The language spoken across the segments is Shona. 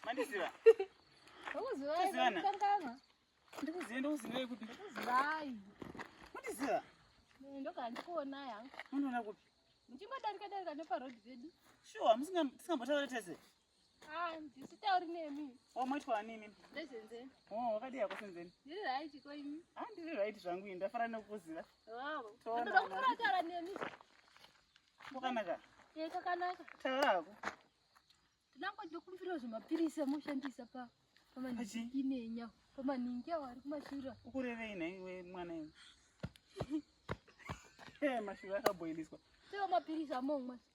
Mandiziva. Ndikuziva. Ndikuziva ndikuziva kuti. Ndikuziva. Mandiziva. Ndoka ndikuona yangu. Unoona kupi? Muchingodarika darika neparodi vedu. Sure, musingambotaure tese. ndisitauri nemi o oh, moitwa nini ndezenzeni o oh, wakadii yako senzeni ndiri right ko imi ha ah, ndiri right zvangu ini ndafara nekukuziva toda kutoratara nemi kwakanaka e kakanaka taura hako ndinango ndokumbirawo zvemapirisi amushandisa pa pamaninginenyao pamaningi awo ari kumashura ukurevei nhaiwe mwana iwe eh, mashura akaboiliswa teo mapirisi amomwa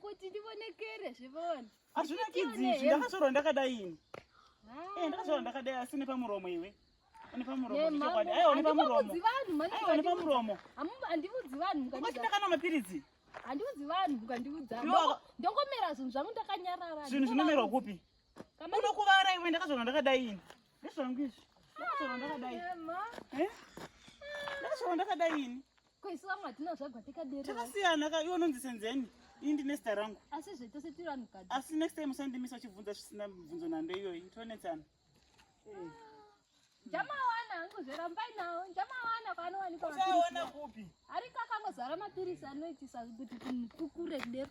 kuti ndivonekere zvivona hazvina kidzizvi ndakazorwa ndakadai ini ah. eh, ndakazorwa ndakadai asi nepamuromo iwe nepamuromonepamuromo handivudzi vanhu ndakana mapiritsi handiudzi vanhu mukandiudza ndongomera zvinhu zvangu ndakanyarara zvinhu zvinomerwa kupi unokuvara iwe ndakazvana ndakadai ini ndezvangu izvi ndakazvana ndakadai ndakazvana ndakadai ini Ko isu vamwe hatina zvagwa tikaderera. Takasiyana ka iwe unonzi senzeni. Ini ndine zita rangu. Asi zve tose tiri vanhu kadi. Asi next time usandimisa uchibvunza zvisina mibvunzo nhando iyoyi. Tonetsana. Eh. Jamawana hangu zverambai nawo. Jamawana panowanikwa. Uchaona kupi? Ari kakangozara mapirisi anoitisa kuti kukure kudero.